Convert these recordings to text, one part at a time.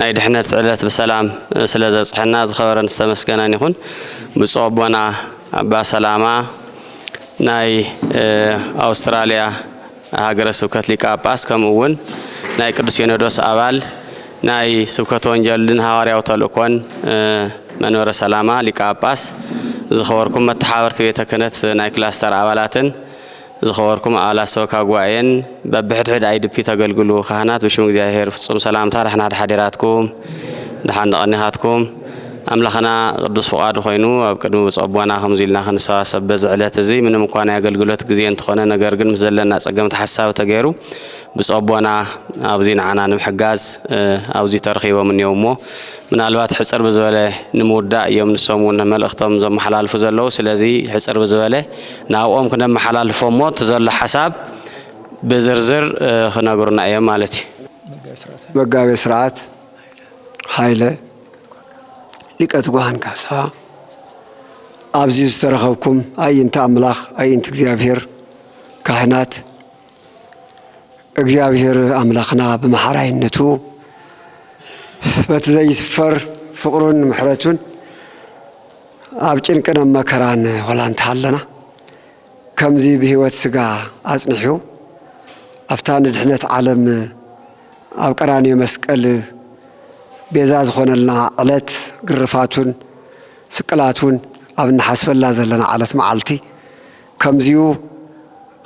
ናይ ድሕነት ዕለት ብሰላም ስለ ዘብጽሐና ዝኸበረን ዝተመስገነን ይኹን። ብፁዕ ኣቦና ኣባ ሰላማ ናይ ኣውስትራልያ ሃገረ ስብከት ሊቀ ጳጳስ ከምኡ እውን ናይ ቅዱስ ሲኖዶስ ኣባል ናይ ስብከተ ወንጀልን ሃዋርያዊ ተልእኮን መንበረ ሰላማ ሊቀ ጳጳስ ዝኸበርኩም መተሓበርቲ ቤተ ክህነት ናይ ክላስተር ኣባላትን ዝኸበርኩም ኣባላት ሰበካ ጉባኤን በብሕድሕድ IDP ተገልግሉ ካህናት ብሽም እግዚኣብሔር ፍጹም ሰላምታ ደሕና ሓዲራትኩም ደሓን ተቐኒኻትኩም። ኣምላኽና ቅዱስ ፍቓዱ ኮይኑ ኣብ ቅድሚ ብፁዕ ኣቦና ከምዚ ኢልና ክንሰባሰብ በዚ ዕለት እዚ ምንም እኳ ናይ ኣገልግሎት ግዜ እንተኾነ ነገር ግን ምስ ዘለና ጸገም ተሓሳቢ ተገይሩ ብፁዕ ኣቦና ኣብዚ ንዓና ንምሕጋዝ ኣብዚ ተረኺቦም እኒዮም እሞ ምናልባት ሕጽር ብዝበለ ንምውዳእ እዮም ንሶም እውን መልእኽቶም ዘመሓላልፉ ዘለዉ ስለዚ ሕጽር ብዝበለ ናብኦም ክነመሓላልፎ እሞ እቲ ዘሎ ሓሳብ ብዝርዝር ክነግሩና እዮም ማለት እዩ። መጋቤ ስርዓት ሃይለ ሊቀ ትጉሃን ካሳ ኣብዚ ዝተረኸብኩም ኣይንተ ኣምላኽ ኣይንት እግዚኣብሔር ካህናት እግዚኣብሔር ኣምላኽና ብመሓራይነቱ በቲ ዘይስፈር ፍቕሩን ምሕረቱን ኣብ ጭንቅን ኣብ መከራን ወላ እንተሃለና ከምዚ ብህይወት ስጋ ኣጽኒሑ ኣብታ ንድሕነት ዓለም ኣብ ቀራንዮ መስቀል ቤዛ ዝኾነልና ዕለት ግርፋቱን ስቅላቱን ኣብ እንሓስበላ ዘለና ዕለት መዓልቲ ከምዚኡ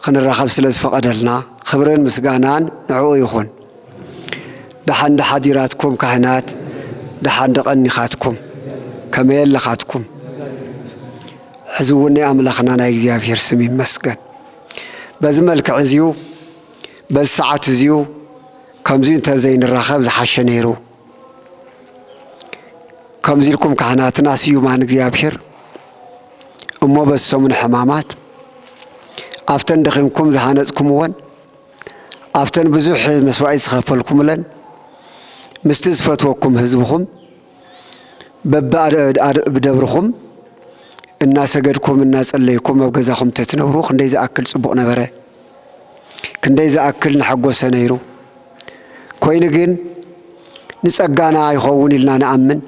ክንራኸብ ስለ ዝፈቐደልና ኽብርን ምስጋናን ንዕኡ ይኹን። ደሓን ዶ ሓዲራትኩም ካህናት ደሓን ዶ ቀኒኻትኩም ከመይ ኣለኻትኩም ሕዚ እውን ናይ ኣምላኽና ናይ እግዚኣብሔር ስም ይመስገን በዚ መልክዕ እዚዩ በዚ ሰዓት እዚዩ ከምዚኡ እንተ ዘይንራኸብ ዝሓሸ ነይሩ። ከምዚ ኢልኩም ካህናትና ስዩማን እግዚኣብሔር እሞ በዚ ሰሙነ ሕማማት ኣብተን ደኺምኩም ዝሃነጽኩምወን ኣብተን ብዙሕ መስዋዕት ዝኸፈልኩምለን ምስቲ ዝፈትወኩም ህዝብኹም በብደብርኹም እናሰገድኩም እናጸለይኩም ኣብ ገዛኹም ተትነብሩ ክንደይ ዝኣክል ጽቡቕ ነበረ ክንደይ ዝኣክል ንሓጎሰ ነይሩ ኮይኑ ግን ንጸጋና ይኸውን ኢልና ንኣምን፣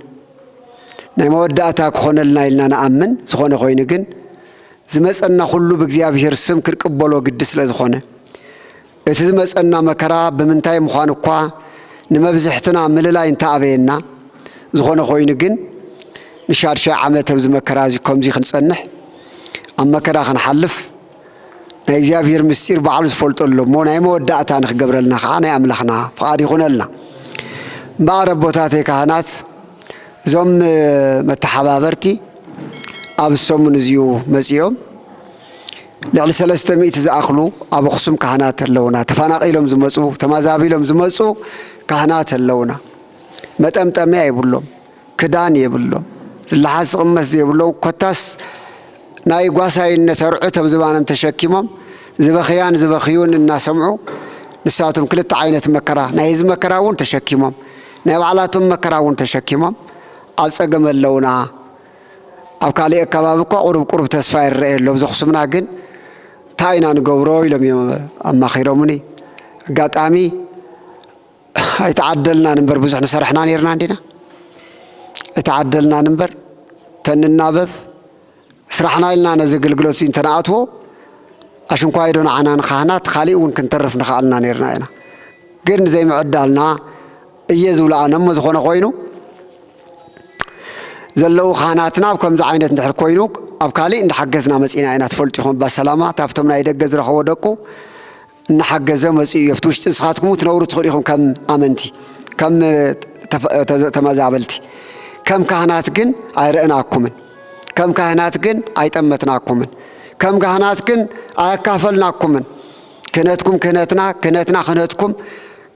ናይ መወዳእታ ክኾነልና ኢልና ንኣምን፣ ዝኾነ ኮይኑ ግን ዝመጸና ኩሉ ብእግዚኣብሔር ስም ክንቅበሎ ግዲ ስለ ዝኾነ፣ እቲ ዝመጸና መከራ ብምንታይ ምዃኑ እኳ ንመብዝሕትና ምልላይ እንተ ኣበየና፣ ዝኾነ ኮይኑ ግን ንሻድሻይ ዓመት ኣብዚ መከራ እዚ ከምዚ ክንጸንሕ ኣብ መከራ ክንሓልፍ ናይ እግዚኣብሔር ምስጢር ባዕሉ ዝፈልጦ ኣሎ እሞ ናይ መወዳእታ ንክገብረልና ከዓ ናይ ኣምላኽና ፍቓድ ይኹነልና። እምበኣር ኣቦታተይ ካህናት እዞም መተሓባበርቲ ኣብ ሰሙን እዚኡ መፂኦም ልዕሊ ሰለስተ ሚእቲ ዝኣኽሉ ኣብ ኣኽሱም ካህናት ኣለውና ተፈናቒሎም ዝመፁ ተማዛቢሎም ዝመፁ ካህናት ኣለውና መጠምጠምያ የብሎም ክዳን የብሎም ዝለሓስ ዝቕመስ ዘይብሎም ኮታስ ናይ ጓሳይነት ኣርዑት ኣብ ዝባኖም ተሸኪሞም ዝበኽያን ዝበኽዩን እናሰምዑ ንሳቶም ክልተ ዓይነት መከራ ናይ ህዝቢ መከራ እውን ተሸኪሞም ናይ ባዕላቶም መከራ እውን ተሸኪሞም ኣብ ጸገም ኣለውና። ኣብ ካሊእ ኣካባቢ እኳ ቁሩብ ቁሩብ ተስፋ ይረኣየሎም ዘኽሱምና ግን እንታይ ኢና ንገብሮ ኢሎም እዮም ኣማኺሮምኒ ኣጋጣሚ ኣይተዓደልናን እምበር ብዙሕ ንሰርሕና ነርና እንዲና ኣይተዓደልናን እምበር ተንናበብ ስራሕና ኢልና ነዚ ኣገልግሎት እዚ እንተነኣትዎ ኣሽንኳይዶ ንዓና ንካህናት ካሊእ እውን ክንተርፍ ንኽኣልና ነርና ኢና ግን ዘይምዕዳልና እየ ዝብሎ ኣነ እሞ ዝኾነ ኮይኑ ዘለዉ ካህናትና ኣብ ከምዚ ዓይነት እንድሕር ኮይኑ ኣብ ካሊእ እንዳሓገዝና መፂና ኢና ትፈልጡ ይኹም ባሰላማ ታብቶም ናይ ደገ ዝረኸቦ ደቁ እናሓገዘ መጺኡ እዮ ኣብቲ ውሽጢ ንስኻትኩም እውን ትነብሩ ትኽእሉ ኢኹም ከም ኣመንቲ ከም ተመዛበልቲ ከም ካህናት ግን ኣይረእናኩምን ከም ካህናት ግን ኣይጠመትናኩምን ከም ካህናት ግን ኣያካፈልናኩምን ክህነትኩም ክህነትና ክህነትና ክህነትኩም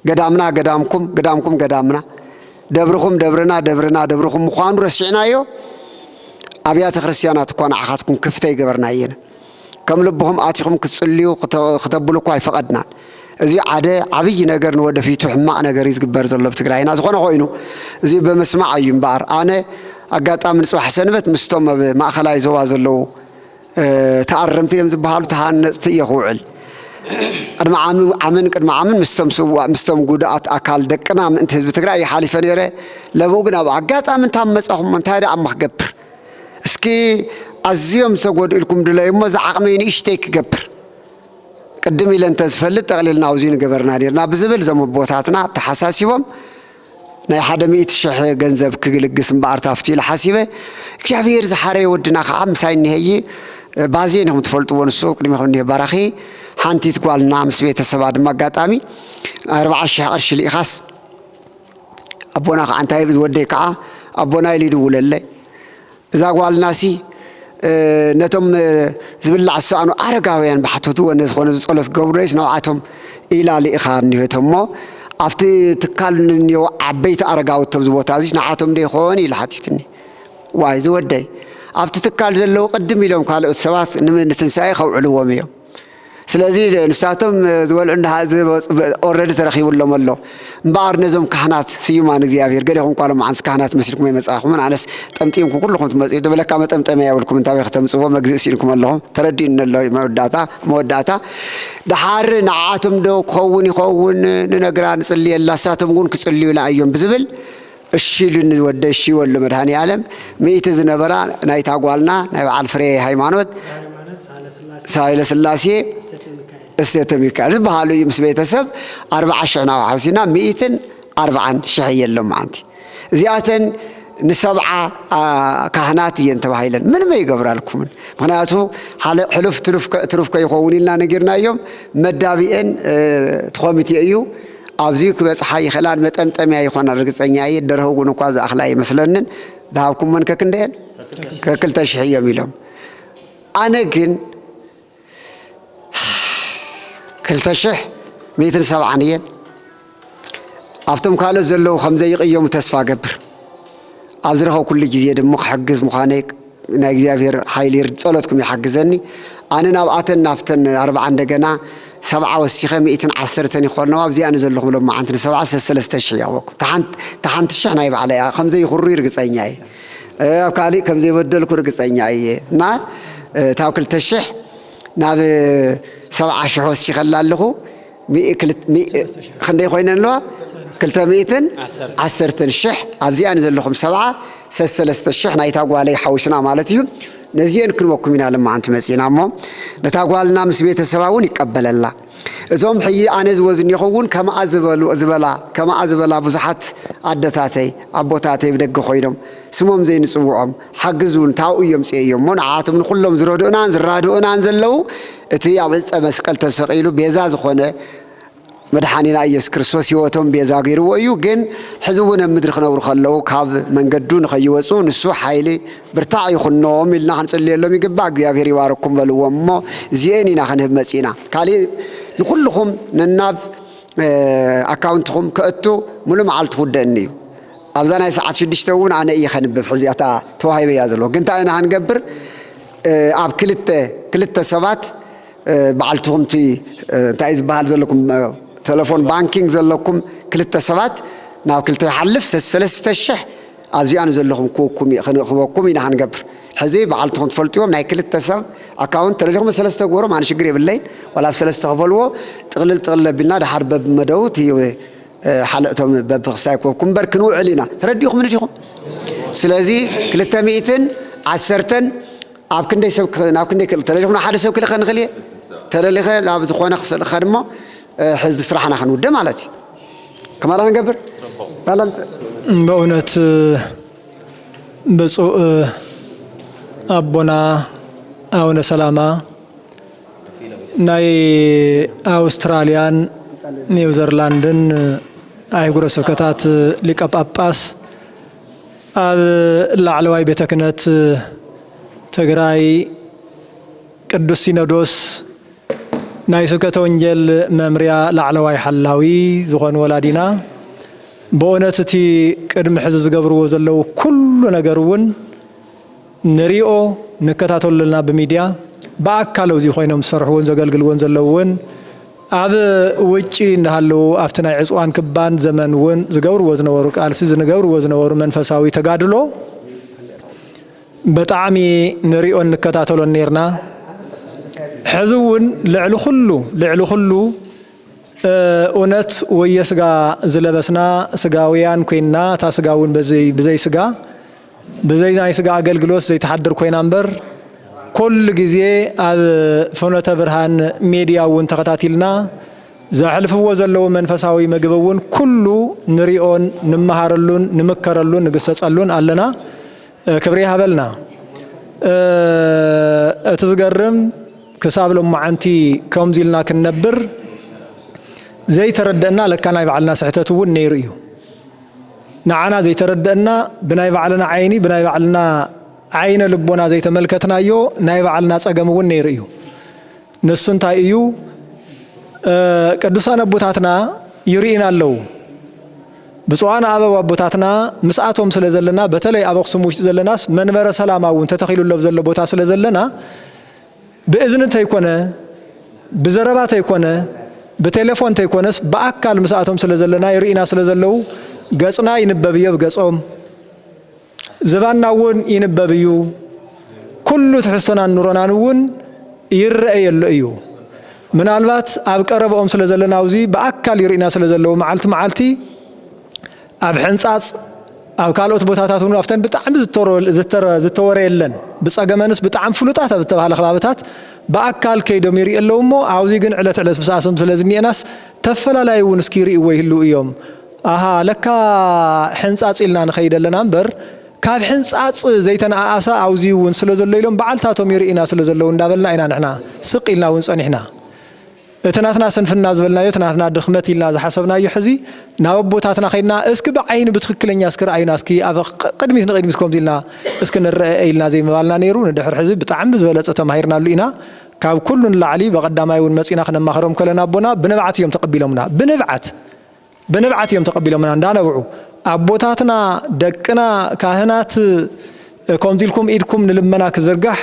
ገዳምና ገዳምኩም ገዳምኩም ገዳምና ደብርኹም ደብርና ደብርና ደብርኹም ምዃኑ ረሲዕናዮ ኣብያተ ክርስቲያናት እኳ ንዓኻትኩም ክፍተ ይገበርና እየን ከም ልብኹም ኣቲኹም ክትጽልዩ ክተብሉ እኳ ኣይፈቐድናን። እዚ ዓደ ዓብይ ነገር ንወደፊቱ ሕማቕ ነገር እዩ ዝግበር ዘሎ ኣብ ትግራይና ዝኾነ ኮይኑ እዚ ብምስማዕ እዩ እምበኣር ኣነ ኣጋጣሚ ንፅባሕ ሰንበት ምስቶም ኣብ ማእኸላይ ዞባ ዘለዉ ተኣረምቲ እዮም ዝበሃሉ ተሃነፅቲ እየ ክውዕል ቅድሚ ዓምን ቅድሚ ዓምን ምስቶም ስዋእ ምስቶም ጉድኣት ኣካል ደቅና ምእንቲ ህዝቢ ትግራይ ይሓሊፈ ነይረ ለብኡ ግን ኣብ ኣጋጣሚ እንታ መፃኹም እንታይ ደኣ እሞ ክገብር እስኪ ኣዝዮም ዝተጎድኡ ኢልኩም ድለዩ እሞ ዝዓቕመይ ንእሽተይ ክገብር ቅድም ኢለ እንተዝፈልጥ ጠቕሊልና ኣውዙይ ንገበርና ኔርና ብዝብል እዞም ኣቦታትና ተሓሳሲቦም ናይ ሓደ ሚእቲ ሽሕ ገንዘብ ክግልግስ እምበኣር ታፍቲ ኢለ ሓሲበ እግዚኣብሄር ዝሓረየ ወድና ከዓ ምሳይ እኒሀይ ባዜ ንኹም ትፈልጥዎ ንሱ ቅድሚኹም እኒሀ ባራኺ ሓንቲት ጓልና ምስ ቤተሰባ ድማ ኣጋጣሚ ኣርባዓ ሽሕ ቅርሺ ልኢኻስ ኣቦና ከዓ እንታይ ይብል ዝወደይ ከዓ ኣቦና ኢሉ ይድውለለይ እዛ ጓልናሲ ነቶም ዝብላዕ ዝሰኣኑ ኣረጋውያን ባሕተቱ ወነ ዝኾነ ዝፀሎት ገብረይስ ነብዓቶም ኢላ ልኢኻ እኒሆቶ እሞ ኣብቲ ትካል ንኒው ዓበይቲ ኣረጋውት ተብዚ ቦታ እዚስ ንዓቶም ዶ ይኾን ኢሉ ሓቲትኒ ዋይ ዝወደይ ኣብቲ ትካል ዘለዉ ቅድም ኢሎም ካልኦት ሰባት ንትንሳኤ ከውዕልዎም እዮም ስለዚ ንሳቶም ዝበልዑ እንዳ ዝበጽ በ- ኦልሬዲ ተረኺቡሎም ኣሎ እምበኣር ነዞም ካህናት ስዩማን እግዚኣብሔር ገሌኹም ኳሎም መዓንስ ካህናት መሲልኩም ኣይመጻእኹምን ኣነስ ጠምጢምኩም ኩልኹም ትመጽኡ ድበለካ መጠምጠምያ የብልኩም እንታበይ ከተምጽዎ መግዝኢ ስኢንኩም ኣለኹም ተረዲኡኒ ኣሎ እዩ መወዳእታ መወዳእታ ደሓር ንዓኣቶም ዶ ክኸውን ይኸውን ንነግራ ንጽልየላ ንሳቶም እውን ክጽልዩላ እዮም ብዝብል እሺ ኢሉኒ ወደይ እሺ ወሎ መድሃኒኣለም ሚእቲ ዝነበራ ናይታ ጓልና ናይ በዓል ፍሬ ሃይማኖት ሳይለስላሴ እሴተ ሚካኤል ዝበሃሉ እዩ ምስ ቤተሰብ ኣርብዓ ሽሕ ናብ ሓውሲና ሚእትን ኣርብዓን ሽሕ እየን ሎማዓንቲ እዚኣተን ንሰብዓ ካህናት እየን ተባሂለን ምንም ኣይገብራልኩምን ምክንያቱ ሕሉፍ ትሩፍ ከይኸውን ኢልና ነጊርናዮም መዳቢኤን ትኮሚቴ እዩ ኣብዚዩ ክበጽሓ ይኽእላን መጠምጠምያ ይኾናን ርግጸኛ እየ ደርሆ እውን እኳ ዝኣኽላ ኣይመስለንን ዝሃብኩሞን ከክንደየን ከክልተ ሽሕ እዮም ኢሎም ኣነ ግን ክልተ ሽሕ ሚእትን ሰብዓን እየን ኣብቶም ካልኦት ዘለዉ ከምዘይቕየሙ ተስፋ ገብር ኣብ ዝረኸብኩሉ ግዜ ድም ክሕግዝ ምዃነይ ናይ እግዚኣብሔር ሓይሊ ጸሎትኩም ይሓግዘኒ ኣነ ናብ ኣተን ናፍተን ኣርብዓ እንደገና ሰብዓ ወሲኸ ሚእትን ዓሰርተን ይኾነዋ ኣብዚኣ ንዘለኹም ሎማዓንቲ ንሰብዓ ሰሰለስተ ሽሕ የቕበኩ ተሓንቲ ሽሕ ናይ ባዕለ እያ ከምዘይኹሩይ ርግጸኛ እየ ኣብ ካልእ ከምዘይበደልኩ ርግጸኛ እየ እና እታብ ክልተ ሽሕ ናብ ሰብዓ ሽሕ ወሲኸላ ኣለኹ ክንደይ ኮይነን ኣለዋ ክልተ ሚእትን ዓሰርተን ሽሕ ኣብዚኣን ዘለኹም ሰብዓ ሰሰለስተ ሽሕ ናይታ ጓለይ ሓዊስና ማለት እዩ ነዚአን ክንበኩም ኢና ልመዓንቲ መፂና እሞ ነታ ጓልና ምስ ቤተሰባ እውን ይቀበለላ እዞም ሕይ ኣነ ዝወዝኒኹ እውን ከምኣ ዝበላ ከምኣ ዝበላ ብዙሓት ኣደታተይ ኣቦታተይ ብደገ ኮይኖም ስሞም ዘይንፅውዖም ሓግዝ እውን ታብኡ እየምፅኤዮ እሞ ንዓኣቶም ንኹሎም ዝረድኡናን ዝራድኡናን ዘለው እቲ ኣብ ዕፀ መስቀል ተሰቂሉ ቤዛ ዝኾነ መድሓኒና ኢየሱስ ክርስቶስ ህይወቶም ቤዛ ገይርዎ እዩ ግን ሕዚ እውን ኣብ ምድሪ ክነብሩ ከለው ካብ መንገዱ ንኸይወፁ ንሱ ሓይሊ ብርታዕ ይኹኖም ኢልና ክንፅልየሎም ይግባእ እግዚኣብሔር ይባረኩም በልዎም እሞ እዚኤን ኢና ክንህብ መፂእና ካሊእ ንኩልኹም ነናብ ኣካውንትኹም ከእቱ ሙሉ መዓልቲ ክውደእኒ እዩ ኣብዛ ናይ ሰዓት ሽዱሽተ እውን ኣነ እየ ከንብብ ሕዚ እታ ተዋሂበያ ዘለኹ ግን እንታይ ኢና ክንገብር ኣብ ክልተ ክልተ ሰባት በዓልትኹም እቲ እንታይ እዩ ዝበሃል ዘለኩም ተለፎን ባንኪንግ ዘለኩም ክልተ ሰባት ናብ ክልተ ይሓልፍ ሰሰለስተ ሽሕ ኣብዚኣ ንዘለኹም ክወኩም ክበኩም ኢና ክንገብር ሕዚ በዓልትኹም ትፈልጥዎም ናይ ክልተ ሰብ ኣካውንት ተለሊኹም ሰለስተ ግበሮም ኣነ ሽግር የብለይን ዋላ ኣብ ሰለስተ ክፈልዎ ጥቕልል ጥቕልል ኣቢልና ድሓር በብመደቡ እቲ ሓለእ እቶም በብክስታይ ኮኩ እምበር ክንውዕል ኢና ተረዲኹም ንዲኹም ስለዚ ክልተ ሚእትን ዓሰርተን ኣብ ክንደይ ሰብ ናብ ክንደይ ክእል ተለሊኹም ሓደ ሰብ ክልኸ ንኽእል እየ ተለሊኸ ናብ ዝኾነ ክስልኸ ድማ ሕዚ ስራሕና ክንውደ ማለት እዩ ከማላ ንገብር በእውነት ብፁእ ኣቦና ኣቡነ ሰላማ ናይ ኣውስትራልያን ኒውዘርላንድን ኣህጉረ ስብከታት ሊቀ ጳጳስ ኣብ ላዕለዋይ ቤተ ክህነት ትግራይ ቅዱስ ሲኖዶስ ናይ ስብከተ ወንጌል መምርያ ላዕለዋይ ሓላዊ ዝኾኑ ወላዲና በእውነት እቲ ቅድሚ ሕዚ ዝገብርዎ ዘለዉ ኩሉ ነገር እውን ንሪኦ ንከታተሎ ኣለና ብሚድያ ብኣካል ኣብዚ ኮይኖም ዝሰርሕዎን ዘገልግልዎን ዘለዉ ውን ኣብ ውጪ እንዳሃለዉ ኣብቲ ናይ ዕፅዋን ክባን ዘመን ውን ዝገብርዎ ዝነበሩ ቃልሲ ዝንገብርዎ ዝነበሩ መንፈሳዊ ተጋድሎ በጣዕሚ ንሪኦን ንከታተሎን ኔርና ሕዚ ውን ልዕሊ ኩሉ ልዕሊ ኩሉ እውነት ወየስጋ ዝለበስና ስጋውያን ኮይንና እታ ስጋ ውን ብዘይ ስጋ ብዘይ ናይ ስጋ ኣገልግሎት ዘይትሓድር ኮይና እምበር ኩሉ ግዜ ኣብ ፍኖተ ብርሃን ሜድያ እውን ተኸታቲልና ዘሕልፍዎ ዘለዉ መንፈሳዊ ምግቢ እውን ኩሉ ንሪኦን ንመሃረሉን ንምከረሉን ንግሰፀሉን ኣለና ክብሪ ይሃበልና እቲ ዝገርም ክሳብ ሎማዓንቲ ከምዚ ኢልና ክንነብር ዘይተረደእና ለካ ናይ ባዕልና ስሕተት እውን ነይሩ እዩ። ንዓና ዘይተረደእና ብናይ ባዕልና ዓይኒ ብናይ ባዕልና ዓይነ ልቦና ዘይተመልከትናዮ ናይ ባዕልና ጸገም እውን ነይሩ እዩ። ንሱ እንታይ እዩ? ቅዱሳን ኣቦታትና ይርእዩና ኣለዉ። ብፁዓን ኣበው ኣቦታትና ምስኣቶም ስለ ዘለና በተለይ ኣብ ኣክሱም ውሽጢ ዘለናስ መንበረ ሰላማ እውን ተተኺሉሎ ዘሎ ቦታ ስለ ዘለና ብእዝኒ ተይኮነ፣ ብዘረባ ተይኮነ፣ ብቴሌፎን ተይኮነስ ብኣካል ምስኣቶም ስለ ዘለና ይርእዩና ስለ ዘለዉ ገጽና ይንበብ እዮ ኣብ ገጾም። ዝባንና እውን ይንበብ እዩ። ኩሉ ትሕዝቶናን ኑሮናን እውን ይረኤ የሎ እዩ። ምናልባት ኣብ ቀረበኦም ስለ ዘለና ኣውዚ ብኣካል ይርእዩና ስለ ዘለዉ መዓልቲ መዓልቲ ኣብ ሕንጻጽ ኣብ ካልኦት ቦታታት እውን ኣብተን ብጣዕሚ ዝተወረየለን ብጸገመንስ ብጣዕሚ ፍሉጣት ኣብ ዝተባህለ ከባብታት ብኣካል ከይዶም ይርኢ ኣለዉ እሞ ኣብዚ ግን ዕለት ዕለት ምስኣሰም ስለ ዝኒኤናስ ተፈላላይ እውን እስኪ ይርእይዎ ይህልው እዮም ኣሃ ለካ ሕንጻጽ ኢልና ንኸይድ ኣለና እምበር ካብ ሕንጻጽ ዘይተነኣኣሳ ኣብዚ እውን ስለ ዘሎ ኢሎም በዓልታቶም ይርእና ስለ ዘለዉ እንዳበልና ኢና ንሕና ስቅ ኢልና እውን ጸኒሕና እቲ ናትና ስንፍና ዝበልናዮ እቲ ናትና ድኽመት ኢልና ዝሓሰብናዮ ሕዚ ናብ ኣቦታትና ከድና እስኪ ብዓይኒ ብትኽክለኛ እስኪ ርኣዩና እስኪ ኣብ ቅድሚት ንቅድሚት ከምዚ ኢልና እስኪ ንረኣኤ ኢልና ዘይምባልና ነይሩ ንድሕር ሕዚ ብጣዕሚ ብዝበለፀ ተማሂርናሉ ኢና ካብ ኩሉ ንላዕሊ በቀዳማይ እውን መፂና ክነማኽሮም ከለና ኣቦና ብንብዓት እዮም ተቀቢሎምና ብንብዓት ብንብዓት እዮም ተቀቢሎምና እንዳ ነብዑ ኣቦታትና ደቅና ካህናት ኮምዚ ኢልኩም ኢድኩም ንልመና ክዝርጋሕ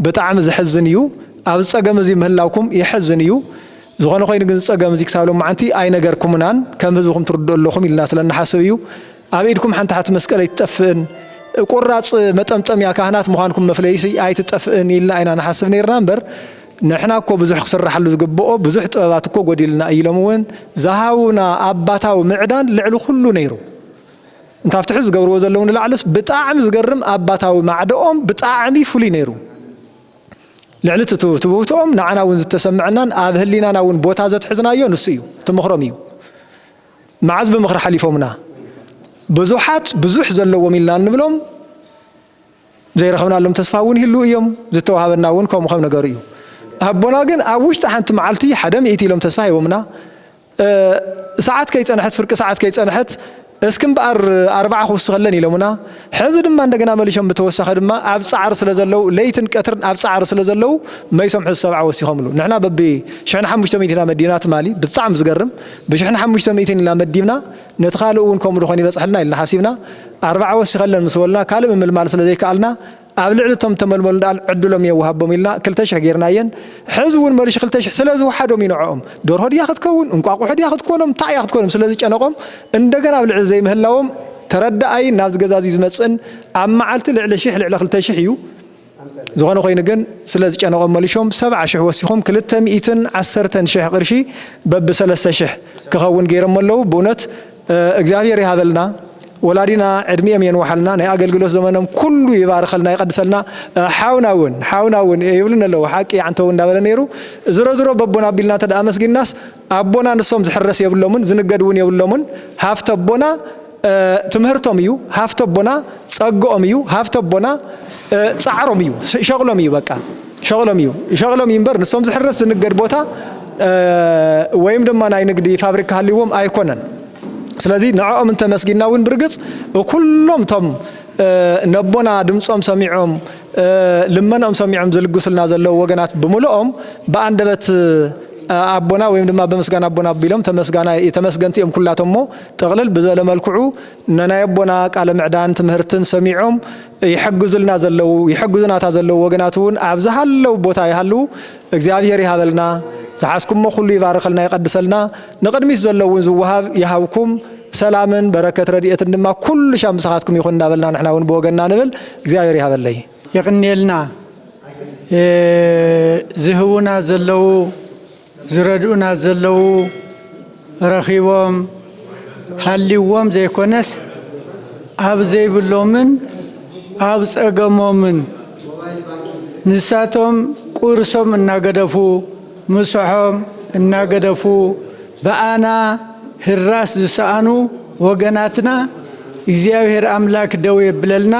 ብጣዕሚ ዝሕዝን እዩ ኣብዚ ጸገም እዚ ምህላውኩም የሕዝን እዩ ዝኾነ ኮይኑ ግን ጸገም እዚ ክሳብ ሎማዓንቲ ኣይነገርኩምናን ከም ህዝቢ ክም ትርድኡ ኣለኹም ኢልና ስለ እንሓስብ እዩ ኣብ ኢድኩም ሓንቲ ሓቲ መስቀል ኣይትጠፍእን፣ ቁራጽ መጠምጠምያ ካህናት ምዃንኩም መፍለይሲ ኣይትጠፍእን ኢልና ኢና ንሓስብ ነይርና እምበር ንሕና እኮ ብዙሕ ክስራሓሉ ዝግብኦ ብዙሕ ጥበባት እኮ ጎዲልና እዩ ኢሎም እውን ዝሃቡና ኣባታዊ ምዕዳን ልዕሊ ኩሉ ነይሩ። ካብቲ ሕዚ ዝገብርዎ ዘለዉ ንላዕልስ ብጣዕሚ ዝገርም ኣባታዊ ማዕደኦም ብጣዕሚ ፍሉይ ነይሩ። ልዕሊ እቲ ትውህትኦም ንዓና እውን ዝተሰምዐናን ኣብ ህሊናና እውን ቦታ ዘትሕዝናዮ ንሱ እዩ፣ እቲ ምኽሮም እዩ። መዓዝ ብምኽሪ ሓሊፎምና ብዙሓት ብዙሕ ዘለዎም ኢልና እንብሎም ዘይረኽብናሎም ተስፋ እውን ይህልው እዮም፣ ዝተዋሃበና እውን ከምኡ ከም ነገሩ እዩ። ኣቦና ግን ኣብ ውሽጢ ሓንቲ መዓልቲ ሓደ ሚእቲ ኢሎም ተስፋ ሂቦምና ሰዓት ከይጸንሐት ፍርቂ ሰዓት ከይጸንሐት እስኪ እምበኣር ኣርብዓ ክውስኸለን ኢሎምና ሕዚ ድማ እንደገና መሊሾም ብተወሳኺ ድማ ኣብ ጻዕሪ ስለ ዘለው ለይትን ቀትርን ኣብ ጻዕሪ ስለ ዘለው መይሶም ሕዚ ሰብዓ ወሲኾምሉ ንሕና በቢ ሽሕን ሓሙሽተ ሚእቲ ኢና መዲና ትማሊ ብጣዕሚ ዝገርም ብሽሕን ሓሙሽተ ሚእቲን ኢልና መዲብና፣ ነቲ ካልእ እውን ከምኡ ድኾን ይበጽሕልና ኢልና ሓሲብና፣ ኣርባዓ ወሲኸለን ምስ በሉና ካልእ ምምልማል ስለ ዘይከኣልና፣ ኣብ ልዕሊ እቶም እተመልመሉ ደኣል ዕድሎም እየ ወሃቦም ኢልና ክልተ ሽሕ ጌርናየን፣ ሕዚ እውን መልሹ ክልተ ሽሕ ስለ ዝወሓዶም እዩ ንዕኦም፣ ደርሆ ድያ ክትከውን፣ እንቋቑሖ ድያ ክትኮኖም፣ እንታይ እያ ክትኮኖም ስለ ዝጨነቖም እንደገና ኣብ ልዕሊ ዘይምህላዎም ተረዳኣይን ናብዚ ገዛ እዚ ዝመጽእን ኣብ መዓልቲ ልዕሊ ሽሕ ልዕሊ ክልተ ሽሕ እዩ፣ ዝኾነ ኮይኑ ግን ስለ ዝጨነቖም መሊሾም ሰብዓ ሽሕ ወሲኾም ክልተ ሚኢትን ዓሰርተን ሽሕ ቕርሺ በቢ ሰለስተ ሽሕ ክኸውን ገይሮሞ ኣለዉ ብእውነት እግዚኣብሔር ይሃበልና ወላዲና ዕድሚኦም የንውሓልና ናይ ኣገልግሎት ዘመኖም ኩሉ ይባርኸልና ይቐድሰልና ሓውና እውን ሓውና እውን ይብሉኒ ኣለዉ ሓቂ ዓንተው እንዳበለ ነይሩ ዝሮዝሮ በቦና ኣቢልና እንተ ኣመስጊንናስ ኣቦና ንሶም ዝሕረስ የብሎምን ዝንገድ እውን የብሎምን ሃፍተ ኣቦና ትምህርቶም እዩ ሃፍቲ ኣቦና ጸግኦም እዩ ሃፍቲ ኣቦና ጻዕሮም እዩ ሸቕሎም እዩ በቃ ሸቕሎም እዩ ሸቕሎም እዩ እምበር ንሶም ዝሕረስ ዝንገድ ቦታ ወይም ድማ ናይ ንግዲ ፋብሪካ ሃልዎም ኣይኮነን ስለዚ ንዕኦም እንተመስጊና እውን ብርግጽ ኩሎም እቶም ነቦና ድምፆም ሰሚዖም ልመኖኦም ሰሚዖም ዝልግሱልና ዘለዉ ወገናት ብምልኦም ብኣንደበት ኣቦና ወይም ድማ ብምስጋና ኣቦና ኣቢሎም ተመስጋና ተመስገንቲ እዮም ኩላቶም እሞ ጥቕልል ብዘለ መልክዑ ነናይ ኣቦና ቃለ ምዕዳን ትምህርትን ሰሚዖም ይሕግዙልና ዘለዉ ይሕግዙናታ ዘለዉ ወገናት እውን ኣብ ዝሃለው ቦታ ይሃልዉ እግዚኣብሔር ይሃበልና ዝሓዝኩሞ ኩሉ ይባርኸልና ይቐድሰልና ንቕድሚት ዘሎ እውን ዝወሃብ ይሃብኩም ሰላምን በረከት ረድኤትን ድማ ኩሉ ሻም ምሳኻትኩም ይኹን እናበልና ንሕና እውን ብወገንና ንብል እግዚኣብሔር ይሃበለይ የቕንየልና ዝህቡና ዘለዉ ዝረድኡና ዘለዉ ረኺቦም ሃልይዎም ዘይኮነስ ኣብ ዘይብሎምን ኣብ ጸገሞምን ንሳቶም ቁርሶም እናገደፉ ምሶሖም እናገደፉ ብኣና ህራስ ዝሰኣኑ ወገናትና እግዚኣብሔር ኣምላክ ደው የብለልና።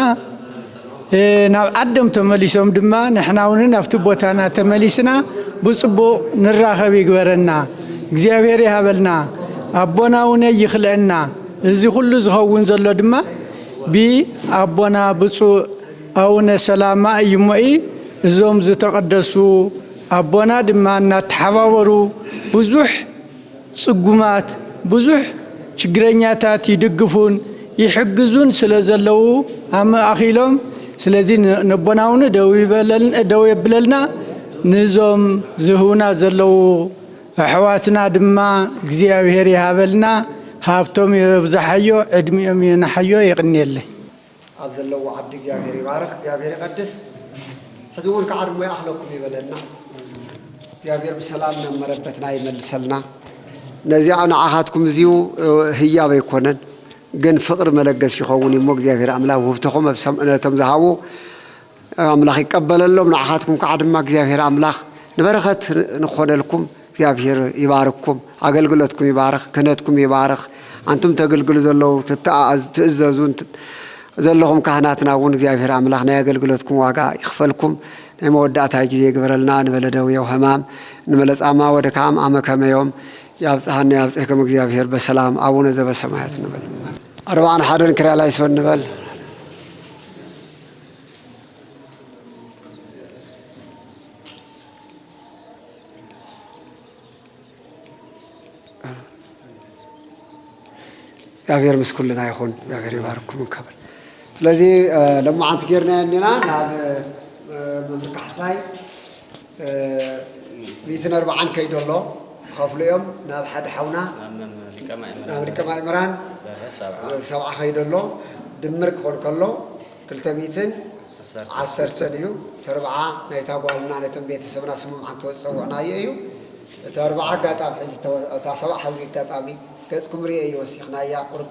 ናብ ዓዶም ተመሊሶም ድማ ንሕናውን ናብቲ ቦታና ተመሊስና ብጽቡቕ ንራኸብ ይግበረና እግዚኣብሔር ይሃበልና ኣቦና ውነይ ይኽለእና እዚ ኩሉ ዝኸውን ዘሎ ድማ ብ ኣቦና ብጹእ ኣውነ ሰላማ እዩሞ እዞም ዝተቐደሱ ኣቦና ድማ እናተሓባበሩ ብዙሕ ጽጉማት ብዙሕ ችግረኛታት ይድግፉን ይሕግዙን ስለ ዘለዉ ኣማእኪሎም ስለዚ ነቦና ውን ደው የብለልና ንዞም ዝህቡና ዘለዉ ኣሕዋትና ድማ እግዚኣብሄር ይሃበልና ሃብቶም የብዛሓዮ ዕድሚኦም የንሓዮ የቅንየለይ። ኣብ ዘለዎ ዓዲ እግዚኣብሔር ይባርኽ እግዚኣብሔር ይቀድስ ሕዚ እውን ከዓ ዕድሞ ይኣኽለኩም ይበለና እግዚኣብሔር ብሰላም ናብ መረበትና ይመልሰልና ነዚኣ ንዓኻትኩም እዚኡ ህያብ ኣይኮነን ግን ፍቅሪ መለገስ ይኸውን እዩሞ እግዚኣብሔር ኣምላክ ውህብተኹም ነቶም ዝሃቡ ኣምላኽ ይቀበለሎም ንዓኻትኩም ካዓ ድማ እግዚኣብሔር ኣምላኽ ንበረኸት ንክኾነልኩም እግዚኣብሔር ይባርክኩም ኣገልግሎትኩም ይባርኽ ክህነትኩም ይባርኽ ኣንቱም ተግልግሉ ዘለዉ ትተኣኣዙ ትእዘዙ ዘለኹም ካህናትና እውን እግዚኣብሔር ኣምላኽ ናይ ኣገልግሎትኩም ዋጋ ይኽፈልኩም ናይ መወዳእታ ጊዜ ይግበረልና ንበለ ደዌው ሕማም ንበለ ጻማ ወድካም ኣመከመዮም ያብጽሐና ያብጽሕኩም እግዚኣብሔር በሰላም ኣቡነ ዘበሰማያት ንበል ኣርባዕን ሓደን ክርያላይሶን ንበል እግዚኣብሔር ምስ ኩልና ይኹን እግዚኣብሔር ይባርኩም እንከብል ስለዚ ለማዓንቲ ጌርናዮ እኒና ናብ መምህር ካሕሳይ ሚእትን ኣርብዓን ከይዱ ኣሎ ክኸፍሉ እዮም ናብ ሓደ ሓውና ናብ ሊቀ ማእምራን ሰብዓ ከይዱ ኣሎ ድምር ክኾን ከሎ ክልተ ሚእትን ዓሰርተን እዩ ተርብዓ ናይታ ጓልና ነቶም ቤተሰብና ስምም ዓንተ ዝፀውዕናዮ እዩ እቲ ኣርብዓ ኣጋጣሚ ሕዚ እታ ሰብዓ ሕዚ ኣጋጣሚ ገፅኩም ርኤ እዩ ወሲኽናያ ቁርብ